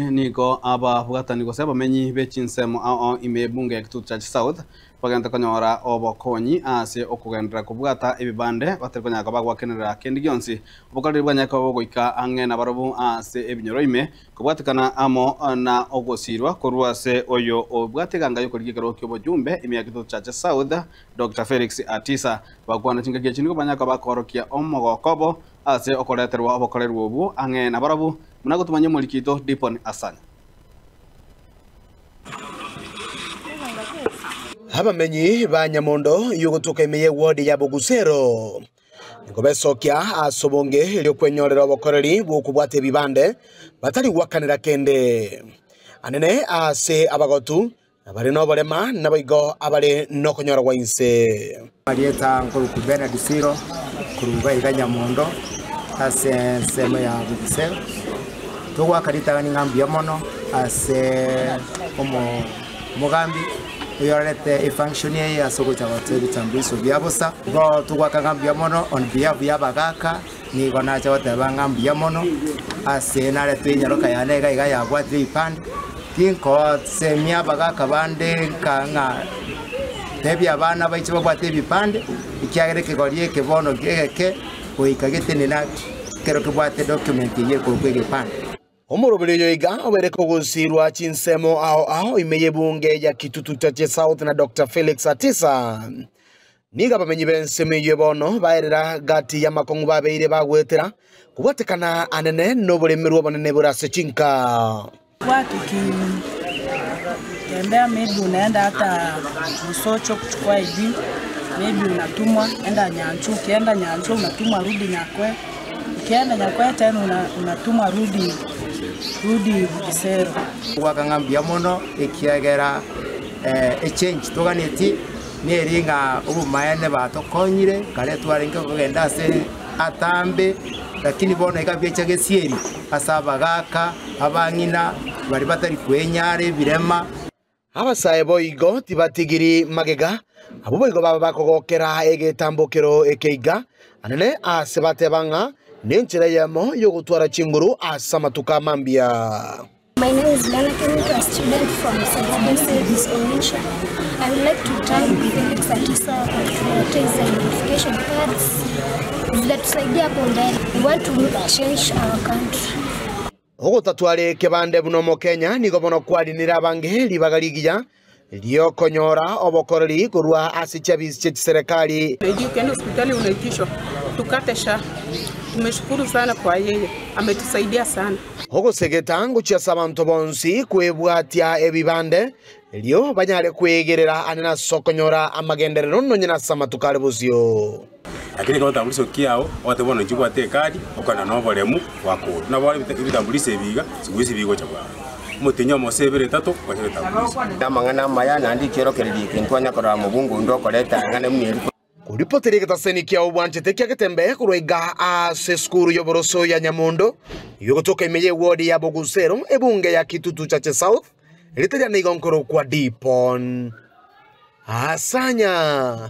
Nigo ababwatani gose abamenyi be chinsemo ao ime Ebunge ya Kitutu Church South bagente konyora obokonyi ase okogenderera kobwata ebibande batari konyara koba gwakenerera kende gionsi. Obokareri bwanyare koba bogoika ang'e na barobwo ase ebinyoro ime kobwatekana amo na ogosiirwa korwa ase oyo obwate eganga y'okorigia ekerogo ki'obochumbe ime ya Kitutu Church South, Doctor Felix Atisa. Abakwana chingaki echi nigo banyare koba bakoorokia omogoko obo Ase okoreterwa obokorerwa obwo ang'e nabarabwo, buna gotumanyia omoriki oito Diponi Hassan. Abamenyi ba Nyamondo y'ogotuka ime ye ward ya Bogusero nigo besokia ase obonge ri'okwenyorera obokoreri bw'okobwata ebibande batari gwakanera kende. Anene ase abagotu Abare noborema naboigo abare nokonyorwa inse. Amarieta nkoruku Bernard Siro korwa igaiga Nyamondo ase ensemo ya Bugisero. Togoaka ritang'ani ng'a mbuya mono ase omo omogambi oyorarete efunction eye ase ogocha goteebia chambuiso bia bosa. Igo togoaka ng'a mbuya mono on behalf ya abagaaka. Nigo nache goteba ng'a mbuya mono, ase naretwe enyaroka yane iga iga yabwatire ebipande, tinkosemia abagaka bande nka ng'a tebia abana baiche babwate ebipande, ekiagera ekegori eke bono egeke goika getenena ekero kebwate document eyio ekorokwa egepande. Omoroberi oyo iga obeire kogusirwa chinsemo ao ao ime y'ebunge ya Kitutu Chache South na Dokta Felix Atisa. Nigo abamenyi b'ensemo eyio bono baerera gati y'amakong'u babeire bagwetera kobwatekana anene n'oboremerwa obonene bore ase chinka. Ekiagera nyakwete, natumwa rudi esero. Goaka ng'a mbuya mono, ekiagera echengi toganeti neri ng'a obomaene batokonyire, kare twarenge kogenda ase atambe, lakini bono iga biecha gesieri ase abagaaka, abang'ina, bari batari kwenyara ebirema. Abasae boigo tibatigiri magega, abwo boigo baba bakogokera egetambokero ekeiga anene aase bateba ng'a nenchera eyemo y'ogotwara chinguru ase amatuko amambia. Ogotatwara ekebande buna omokenya nigo bono kwarinire abange ribaga rigiya ri'okonyora obokoreri korwa ase chiabiisi chie chiserekari. Ogosegeta ngochia ase abanto bonsi kwebwatia ebibande erio banyare kwegerera aane ase okonyora amagenderero nonya nase amatuko are bosio. Lakini ekero otambulisha okia ao, ogoteba buna inche obwate ekadi, okogenda noboremu, gwakorwa. Nabo bono ebitambulisho ebi iga, chinguru chi'bi chigocha bwango. Omotienyi omo gose ibere etato, gwacha ebitambulisho. Namang'ana amaya, naende ekiorokererio eke, nkonya korora mobunga onde okoreta eng'ana buna eria. Koripoteria egetaseni kiao bwanchete kia getembe korwa iga aase esukuru y'oboroso ya Nyamondo, y'ogotoka ime y'ewodi ya Bogusero, ebunge ya Kitutu Chache South, rita riane igo nkorokwa Dipon Asanya.